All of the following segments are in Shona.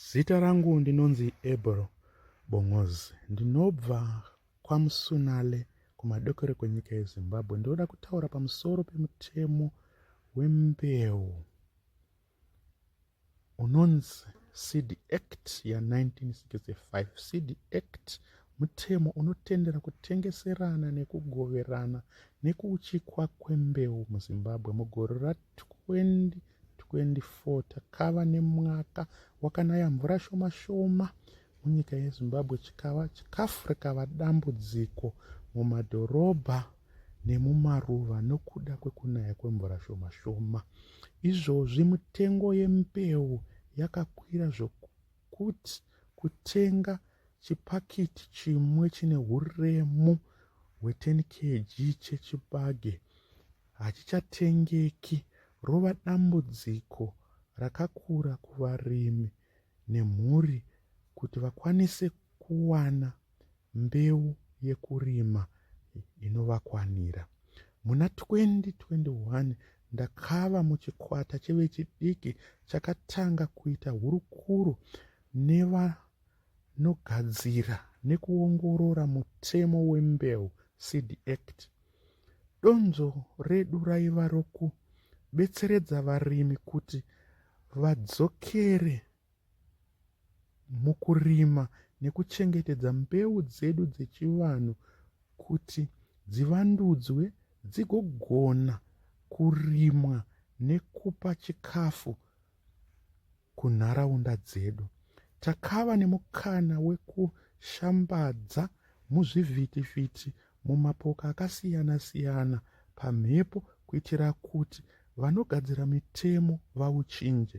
Zita rangu ndinonzi Ebro Bongozi. Ndinobva kwaMusunale kumadokero kwenyika yeZimbabwe. Ndinoda kutaura pamusoro pemutemo wembeu unonzi Seed Act ya1965. Seed Act mutemo unotendera kutengeserana nekugoverana nekuuchikwa kwembeu muZimbabwe mugore ra 20 24 takava nemwaka wakanaya mvura shoma shoma munyika yezimbabwe chikava chikafu rikava dambudziko mumadhorobha nemumaruva nokuda kwekunaya kwemvura shoma shoma izvozvi mitengo yembeu yakakwira zvokuti kutenga chipakiti chimwe chine uremu hwe10 kg chechibage hachichatengeki rova dambudziko rakakura kuvarimi nemhuri kuti vakwanise kuwana mbeu yekurima inovakwanira. Muna 2021 ndakava muchikwata chevechidiki chakatanga kuita hurukuro nevanogadzira nekuongorora mutemo wembeu, Seed Act, Donzvo redu raiva rokubetseredza varimi kuti vadzokere mukurima nekuchengetedza mbeu dzedu dzechivanhu kuti dzivandudzwe dzigogona kurimwa nekupa chikafu kunharaunda dzedu. Takava nemukana wekushambadza muzvivhitivhiti mumapoka akasiyana-siyana pamhepo kuitira kuti vanogadzira mitemo vauchinje.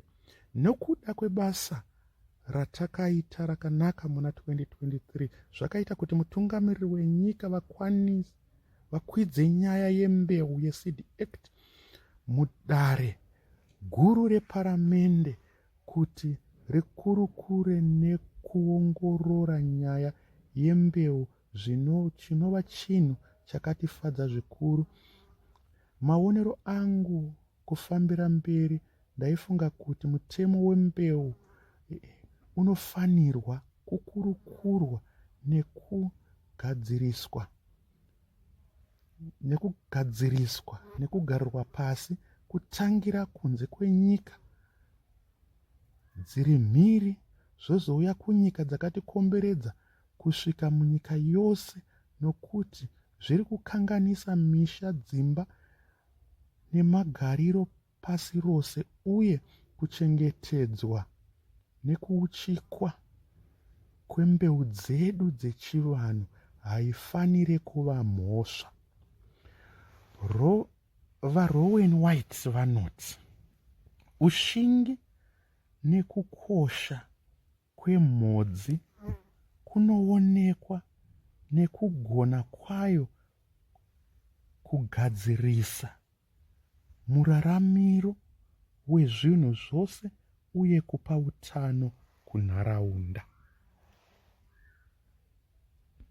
Nokuda kwebasa ratakaita rakanaka muna 2023 zvakaita kuti mutungamiriri wenyika vakwanise vakwidze nyaya yembeu yeseed act mudare guru reparamende kuti rikurukure nekuongorora nyaya yembeu zvino chinova chinhu chakatifadza zvikuru maonero angu kufambira mberi ndaifunga kuti mutemo wembeu eh, unofanirwa kukurukurwa nekugadziriswa nekugadziriswa nekugarirwa pasi kutangira kunze kwenyika dziri mhiri zvozouya kunyika dzakatikomberedza kusvika munyika yose nokuti zviri kukanganisa misha dzimba nemagariro pasi rose uye kuchengetedzwa nekuuchikwa kwembeu dzedu dzechivanhu haifanire kuva mhosva. Ro, VaRowan White vanoti ushingi nekukosha kwemhodzi kunoonekwa nekugona kwayo kugadzirisa muraramiro wezvinhu zvose uye kupa utano kunharaunda.